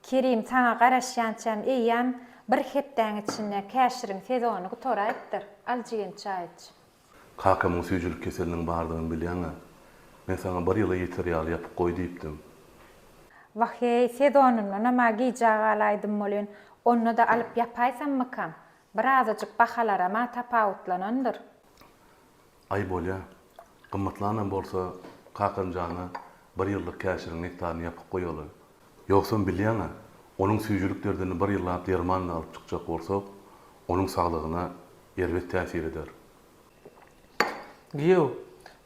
Kerim saňa garaşýançam eýýäm bir hepdäň içinde käşiriň sezony gutaraýypdyr. Al jigim çaý iç. Kakamyň süýjülik keseliniň bardygyny bilýäň-ä. Men saňa bir ýyla ýeter ýaly ýapyp goý diýipdim. Wah-eý, sezonyndanam-a gijä galaýdym welin, onda-da alyp ýapaýsammykam? Bir azajyk bahalaram-a tapawutlanandyr. Aý bolýa. Gymmatlanam bolsa Kakam jana bir ýyllyk käşiriň nektaryny ýapyp goýaly. Ýogsam bilýäň-ä, onuň süýjülik derdini bir ýyllap dermanly alyp çykjak bolsak, onuň saglygyna erbet täsir eder. Giýew,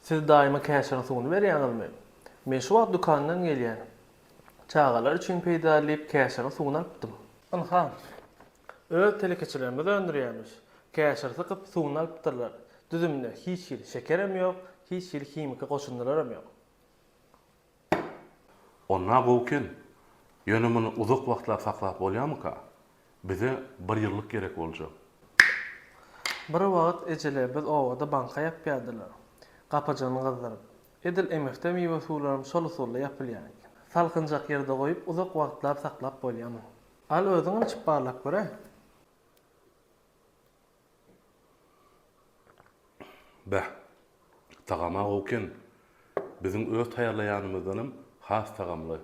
siz daýyma käşiriň suwuny berýäňizmi? Men şu wagt dükandan gelýän. Çagalar üçin peýdaly diýip käşiriň suwuny alypdym. Ynha. Öz telekeçilerimiz öndürýärmiş. Käşir sykyp, suwuny alypdyrlar. Düzüminde hiç hili şekerem ýok, hiç hili himiki goşundylaram ýok. Onda gowuken. Ýöne muny uzak wagtlap saklap bolýarmyka? Bize bir ýyllyk gerek boljak. Bir wagt ejelerimiz obada banka ýapýardylar. Gapajygyny gyzdyryp. Edil emifde miwe-suwlaram şol usulda ýapylýar eken. Salkynjak ýerde goýup uzak wagtlap saklap bolýarmy? Al özüňem içip barlap göre. Beh. Tagama gowy eken. Biziň öz taýýarlaýanymyzdanam has tagamly.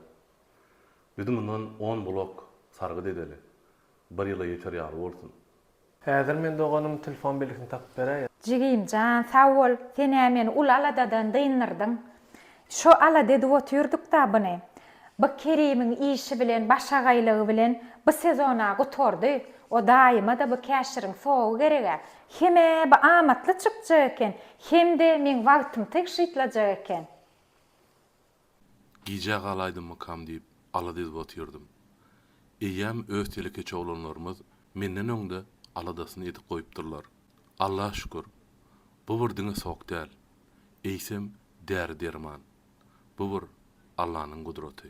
Biz mundan on blok sargyt edeli. Bir ýyla ýeter ýaly bolsun. Häzir men doganym telefon belgisini tapyp beräýen. Jigimjan sag bol, senä meni uly aladadan dyndyrdyň. Şo alada edip otyrdykda buny. Bu Kerimiň işi bilen başagaýlygy bilen bu sezona gutardy. O daýymada bu käşiriň sowy gereg-ä. Hem-ä bu amatly çykjak eken, hem-de meň wagtym tygşytlajak eken. Gijä galaýdymmykam diýip alada edip otyrdym. Eýýäm öz telekeçi oglanlarymyz menden öňde aladasyny edip goýupdyrlar. Alla şükür, bu bir diňe sok däl, eýsem däri-derman. Bu bir Allanyň gudraty.